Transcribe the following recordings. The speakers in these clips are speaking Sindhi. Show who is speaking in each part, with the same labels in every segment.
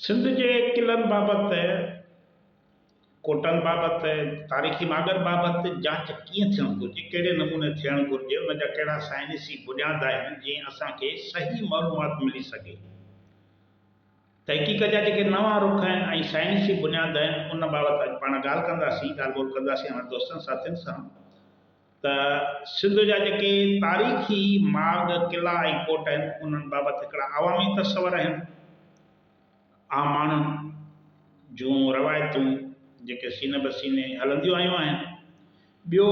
Speaker 1: سنڌ جي قلعن بابت، ڪوٽن بابت، تاريخي ماڳن بابت جاچ ڪيئن ٿيڻ گهرجي، ڪهڙي نموني ٿيڻ گهرجي، ان جا ڪهڙا سائنسي بنياد آهن، جيئن اسان کي صحيح معلومات ملي سگهي. تحقيق جا جيڪي نوان رخ آهن ۽ سائنسي بنياد آهن، ان بابت اڄ پاڻ ڳالهه ڪنداسين، ڳالهه ٻولهه ڪنداسين اوهان دوستن ساٿين سان. ته سنڌ جا جيڪي تاريخي ماڳ، قلعا ۽ ڪوٽ آهن، انهن بابت هڪڙا عوامي تصور آهن. عام ماڻهن جون روايتون جيڪي سيني به سيني هلنديون آيون آهن. ٻيو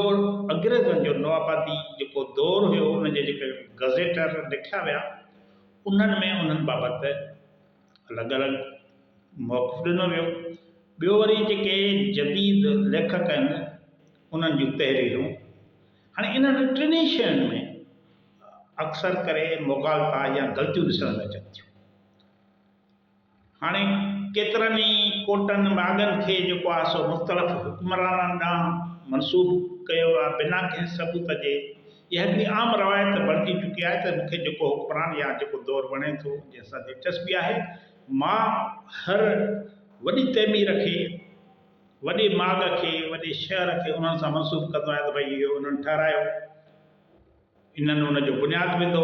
Speaker 1: انگريزن جو نوآبادي جيڪو دور هيو، ان جي جيڪي گزيٽر لکيا ويا، انهن ۾ انهن بابت الڳ الڳ موقف ڏنو ويو. ٻيو وري جيڪي جديد ليکڪ آهن، انهن جون تحريرون هاڻي انهن ٽنهي شين ۾ اڪثر ڪري مغالطا يا غلطيون ڏسڻ ۾ اچن ٿيون. هاڻي ڪيترن ئي ڪوٽن ماڳن کي جيڪو آهي سو مختلف حڪمرانن ڏانهن منسوب ڪيو ويو آهي بنا ڪنهن ثبوت جي. اها هڪڙي عام روايت بڻجي چڪي آهي ته مون کي جيڪو حڪمران يا جيڪو دور وڻي ٿو، جنهن سان دلچسپي آهي، مان هر وڏي تعمير کي، وڏي ماڳ کي، وڏي شهر کي انهن سان منسوب ڪندو آهيان ته ڀئي اهو انهن ٺهرايو، انهن ان جو بنياد وڌو.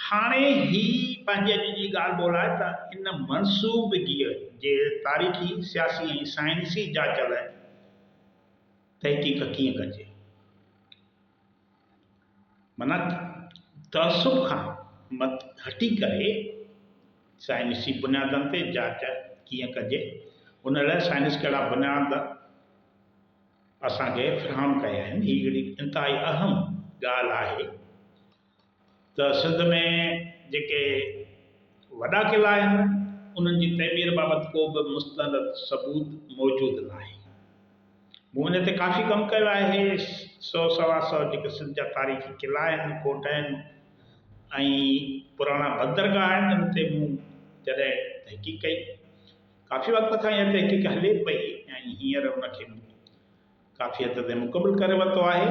Speaker 1: هاڻي هي پنهنجي اڄ جي ڳالهه ٻولهه آهي ته ان منسوبگيء جي تاريخي، سياسي ۽ سائنسي جاچ لاء تحقيق ڪيئن ڪجي. معنيٰ تعصب کان مٿ هٽي ڪري سائنسي بنيادن تي جاچ ڪيئن ڪجي، ان لاء سائنس ڪهڙا بنياد اسان کي فراهم ڪيا آهن، هي هڪڙي انتهائي اهم ڳالهه آهي. ته سنڌ ۾ جيڪي وڏا قلعا آهن، انهن جي تعمير بابت ڪو به مستند ثبوت موجود ناهي. مون ان تي ڪافي ڪم ڪيو آهي. سئو سوا سئو جيڪي سنڌ جا تاريخي قلعا آهن، ڪوٽ آهن ۽ پراڻا بندرگاهه آهن، ان تي مون جڏهن تحقيق ڪئي، ڪافي وقت کان اها تحقيق هلي پئي ۽ هينئر ان کي مون ڪافي حد تائين مڪمل ڪري ورتو آهي.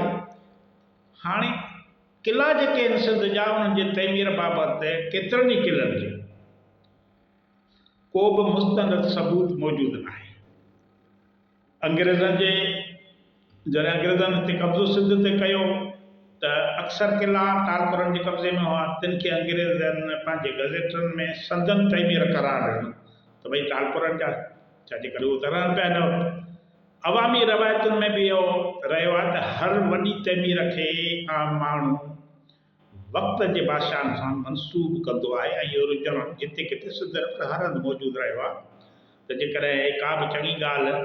Speaker 1: هاڻي قلعا جيڪي آهن سنڌ جا انهن جي تعمير بابت ڪيترن ئي قلعن جو ڪو به مستند ثبوت موجود ناهي. انگريزن جي جڏهن انگريزن هتي قبضو سنڌ تي ڪيو ته اڪثر قلعا ٽالپرن جي قبضي ۾ هئا تن کي انگريزن پنهنجي گزيٽن ۾ سندن تعمير قرار ڏنو ته ڀئي ٽالپرن جا آهن ڇا جي ڪري اهو ترهن پيا هن وقت عوامي روايتن ۾ به اهو رهيو آهي ته هر وڏي تعمير کي عام ماڻهو وقت جي بادشاهن سان منسوب ڪندو آهي ۽ اهو رجحان جتي ڪٿي سڌ رفت هر هنڌ موجود رهيو آهي ته جيڪڏهن ڪا به چڱي ڳالهه،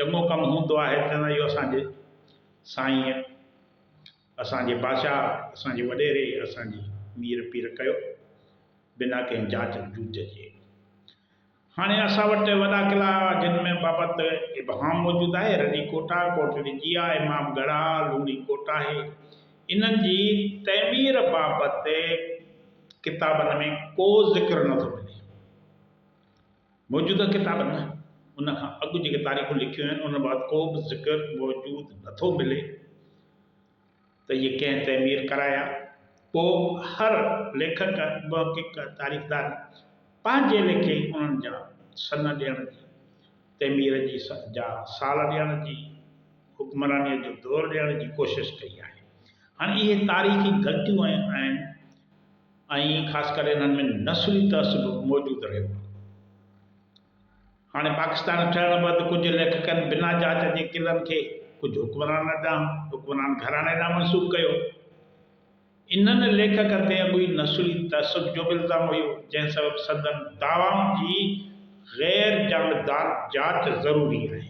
Speaker 1: چڱو ڪم هوندو آهي ته چوندا آهن اهو اسان جي سائينء، اسان جي بادشاهه، اسان جي وڏيري، اسان جي مير پير ڪيو بنا ڪنهن جاچ جوچ جي. هاڻي اسان وٽ وڏا قلعا جن ۾ بابت ابهام موجود آهي، رني ڪوٽا، ڪوٽ ڏجيا، امام ڳڙها، لوڻي ڪوٽ آهي. انهن جي تعمير بابت ڪتابن ۾ ڪو ذڪر نه ٿو ملي. موجوده ڪتابن ۾ ان کان اڳ جيڪي تاريخون لکيون آهن، انهن بابت ڪو به ذڪر موجود نه ٿو ملي. ته اهي ڪنهن تعمير ڪرايا؟ پوء هر ليکڪ، محقق، تاريخدار پنهنجي ليکي انهن جا سن ڏيڻ جي، تعمير جي جا سال ڏيڻ جي، حڪمرانيء جو دور ڏيڻ جي ڪوشش ڪئي آهي. هاڻي اهي تاريخي غلطيون ۽ آهن ۽ خاص ڪري انهن ۾ نسلي تعصب موجود رهيو آهي. هاڻي پاڪستان ٺهڻ بعد ڪجهه ليکڪن بنا جاچ جي قلعن کي ڪجهه حڪمران ڏانهن، حڪمران گهراڻي ڏانهن منسوب ڪيو. انهن ليکڪن تي اڳوئي نسلي تعصب جو به الزام هيو، جنهن سبب سندن دعوائن جي غير جانبدار جاچ ضروري آهي.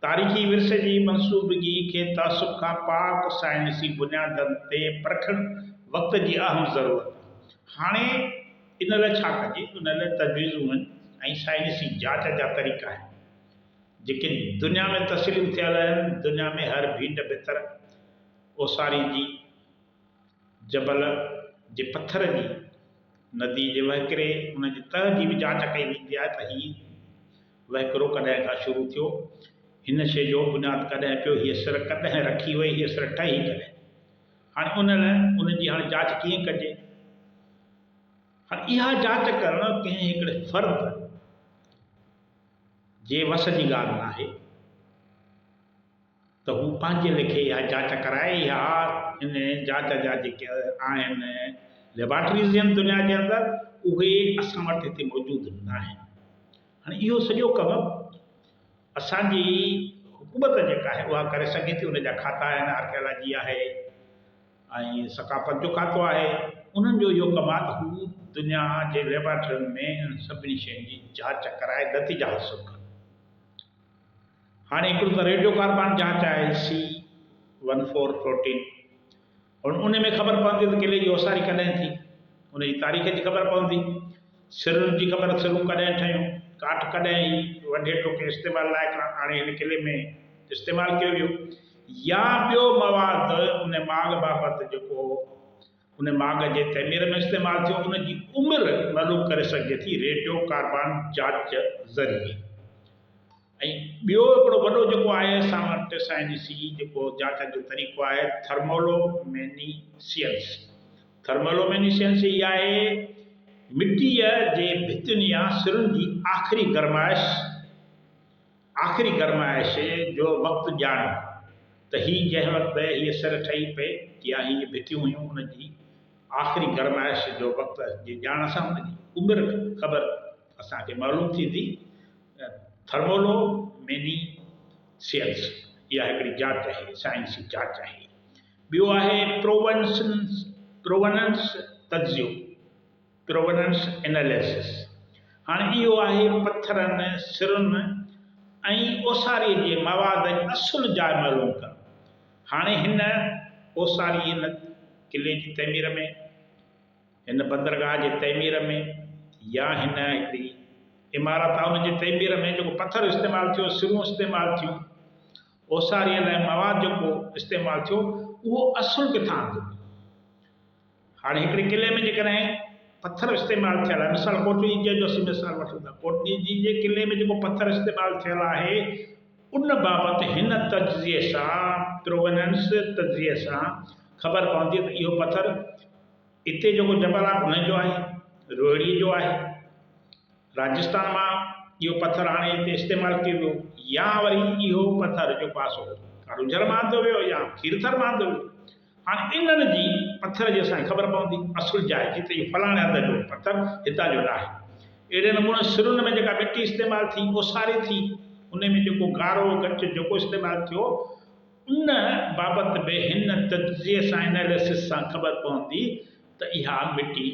Speaker 1: تاريخي ورثي جي منصوبگي کي تعصب کان پاڪ سائنسي بنيادن تي پرکڻ وقت جي اهم ضرورت آهي. هاڻي ان لاء ڇا ڪجي؟ ان لاء تجويزون آهن ۽ سائنسي جاچ جا طريقا آهن، جيڪي دنيا ۾ تسليم ٿيل آهن. دنيا ۾ هر ڀينڊ ڀتر اوساري جي. جبل جي پٿر جي ندي جي وهڪري ان جي تهه جي به جاچ ڪئي ويندي آهي ته هي وهڪرو ڪڏهن کان شروع ٿيو، هن شيء جو بنياد ڪڏهن پيو، هيء سر ڪڏهن رکي وئي، هيء سر ٺهي ڪڏهن؟ هاڻي ان لاء ان جي هاڻي جاچ ڪيئن ڪجي؟ هاڻي اها جاچ ڪرڻ ڪنهن هڪڙي فرد جي وس جي ڳالهه ناهي. ته هو پنهنجي ليکي اها جاچ ڪرائي يا ان جاچ جا جيڪي آهن ليبارٽريز هن دنيا جي اندر اهي اسان وٽ هتي موجود ناهن. هاڻي اهو سڄو ڪم اسان جي حڪومت جيڪا آهي اها ڪري سگهي ٿي ان جا کاتا آهن آرڪيالاجي آهي ۽ ثقافت جو کاتو آهي انهن جو اهو ڪم آهي ته هو دنيا جي ليبارٽرين ۾ انهن سڀني شين جي جاچ ڪرائي نتيجا حاصل ڪن. هاڻي هڪڙو ته ريڊيو ڪاربان جاچ آهي سي ون فور پروٽين هن ان ۾ خبر پوندي ته ڪلي جي اوساري ڪڏهن ٿي ان جي تاريخ جي خبر پوندي سرن جي خبر سرون ڪڏهن ٺهيون ڪاٺ ڪڏهن هي وڍي ٽوڪي استعمال لائق آڻي هن ڪلي ۾ استعمال ڪيو ويو يا ٻيو مواد ان ماڳ بابت جيڪو ان ماڳ جي تعمير ۾ استعمال ٿيو ان جي عمر معلوم ڪري سگهجي ٿي ريڊيو ڪاربان جاچ ذريعي ۽ ٻيو هڪڙو وڏو جيڪو آهي اسان وٽ سائين جي سي جيڪو جاچ جو طريقو آهي ٿرمولو ميني سيئنس ٿرمولو ميني سيئنس هي آهي مٽيء جي ڀتين يا سرن جي آخري گرمائش آخري گرمائش جو وقت ڄاڻ ته هي جنهن وقت هيء سر ٺهي پئي يا هيء ڀتيون هيون ان جي آخري گرمائش جو وقت جي ڄاڻ سان ان جي عمر خبر اسان کي معلوم ٿيندي ٿرمولو ميني سيئنس اها هڪڙي جاچ آهي سائنسي جاچ آهي ٻيو آهي پرووننس پرووننس تجزيو Provenance Analysis، هاڻي اهو آهي پٿرن، سرن ۽ اوساريء جي مواد جي اصل جاء معلوم ڪرڻ. هاڻي هن اوساري هن قلعي جي تعمير ۾، هن بندرگاهه جي تعمير ۾ يا هن هڪڙي عمارت آهي ان جي تعمير ۾ جيڪو پٿر استعمال ٿيو، سرون استعمال ٿيون، اوساريء لاء مواد جيڪو استعمال ٿيو اهو اصل ڪٿان اندو. هاڻي هڪڙي قلعي ۾ جيڪڏهن پٿر استعمال ٿيل آهي مثال ڪوٽ ڏيجي جو اسين مثال وٺون ٿا ڪوٽ ڏيجي جي قلعي ۾ جيڪو پٿر استعمال ٿيل آهي ان بابت هن تجزيي سان پرووننس تجزيي سان خبر پوندي ته اهو پٿر اتي جيڪو جبل آهي ان جو آهي روهڙي جو آهي راجستان مان اهو پٿر آڻي اتي استعمال ڪيو ويو يا وري اهو پٿر جيڪو آهي سو ڪاروجھر مان آندو ويو يا کيرٿر مان آندو ويو هاڻ انهن جي پٿر جي اسان کي خبر پوندي اصل جاء جي ته اهو فلاڻي هنڌ جو پٿر هتان جو ناهي. اهڙي نموني سرن ۾ جيڪا مٽي استعمال ٿي اوساري ٿي انهي ۾ جيڪو گارو ڳچ جيڪو استعمال ٿيو ان بابت به هن تجزيي سان Analysis سان خبر پوندي ته اها مٽي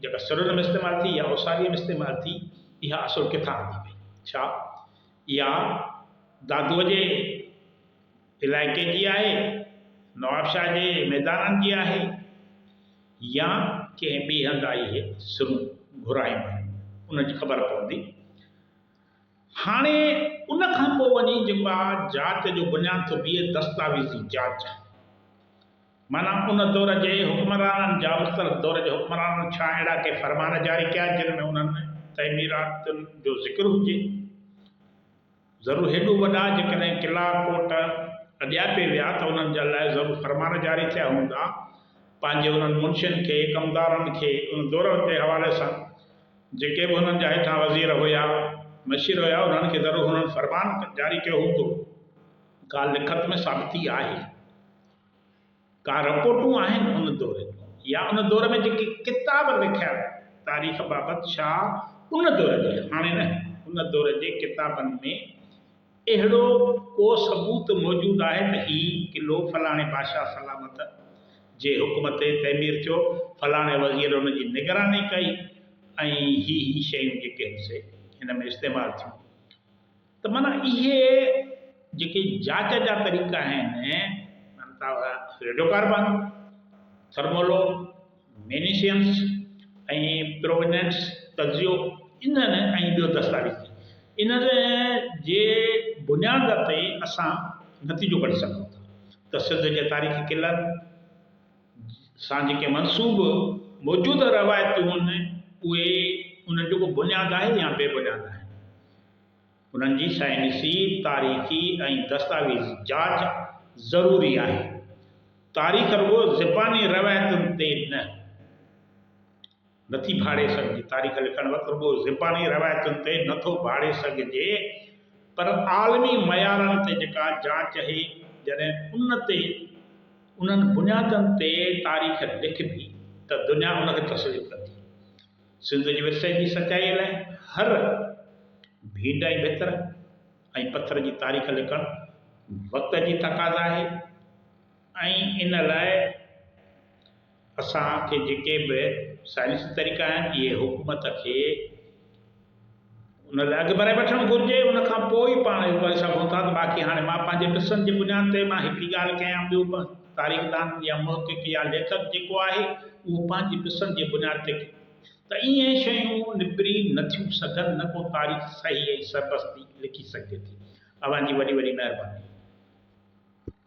Speaker 1: جيڪا سرن ۾ استعمال ٿي يا اوساري ۾ استعمال ٿي اها اصل ڪٿان هلي وئي ڇا اها دادوء جي علائقي جي آهي، نوابشاهه جي ميدانن جي آهي يا ڪنهن ٻئي هنڌ آئي هي سرون گهرايون آهن ان جي خبر پوندي. هاڻي ان کان پوء وڃي جيڪو آ جاچ جو بنياد ٿو بيهي دستاويزي جاچ معنيٰ ان دور جي حڪمرانن جا مختلف دور جي حڪمرانن ڇا اهڙا ڪي فرمان جاري ڪيا جن ۾ انهن تعميراتن جو ذڪر هجي. ضرور هيڏو وڏا جيڪڏهن قلعا ڪوٽ اڏياپي ويا ته انهن جا لاء ضرور فرمان جاري ٿيا هوندا. پنهنجي انهن منشين کي، ڪمدارن کي، ان دورر جي حوالي سان جيڪي به هنن جا هيٺان وزير هيا، مشير هيا انهن کي ضرور هنن فرمان جاري ڪيو هوندو. ڳالهه لکت ۾ ثابتي آهي. ڪا رپورٽون آهن ان دور جون يا ان دور ۾ جيڪي ڪتاب لکيا ويا تاريخ بابت ڇا ان دور جي هاڻي نه ان دور جي ڪتابن ۾ اهڙو ڪو ثبوت موجود آهي ته هي قلعو فلاڻي بادشاهه سلامت جي حڪم تي تعمير ٿيو فلاڻي وزير ان جي نگراني ڪئي ۽ هي هي شيون جيڪي هن سي هن ۾ استعمال ٿيون ته معنيٰ اهي جيڪي جاچ جا طريقا آهن معنيٰ ته ريڊيو ڪاربان، ٿرمولو مينيسينس ۽ پروونينس تجزيو انهن ۽ ٻيو دستاويزي انهن جي بنياد تي اسان نتيجو ڪڍي سگهون ٿا ته سنڌ جي تاريخي قلعن سان جيڪي منسوب موجوده روايتون آهن اهي انهن جو ڪو بنياد آهي يا بي بنياد آهن. انهن جي سائنسي، تاريخي ۽ دستاويزي جاچ ضروري آهي. تاريخ رڳو زباني روايتن تي نه نٿي ڀاڙي سگهجي، تاريخ لکڻ وقت رڳو زباني روايتن تي نه ٿو ڀاڙي سگهجي پر عالمي معيارن تي جيڪا جاچ اهي جڏهن ان تي انهن بنيادن تي تاريخ لکبي ته دنيا ان کي تسليم ڪندي. سنڌ جي ورثي جي سچائيء لاء هر ڀينڊ ۽ ڀتر ۽ پٿر جي تاريخ لکڻ وقت جي تقاضا آهي ۽ ان لاء اسان کي جيڪي به سائنسي طريقا آهن اهي حڪومت کي ان لاء اڳ ڀرائي وٺڻ گهرجي، ان کان پوء ئي پاڻ اهو ڪري سگهون ٿا ته باقي هاڻي مان پنهنجي قصن جي بنياد تي مان هڪ ئي ڳالهه ڪيان ٻيو به تاريخدان يا محقق يا ليکڪ جيڪو آهي اهو پنهنجي قصن جي بنياد تي ڪي ته ايئن شيون نبري نه ٿيون سگهن نه ڪو تاريخ صحيح ۽ سربستي لکي سگهجي ٿي. اوهان جي وڏي وڏي مهرباني.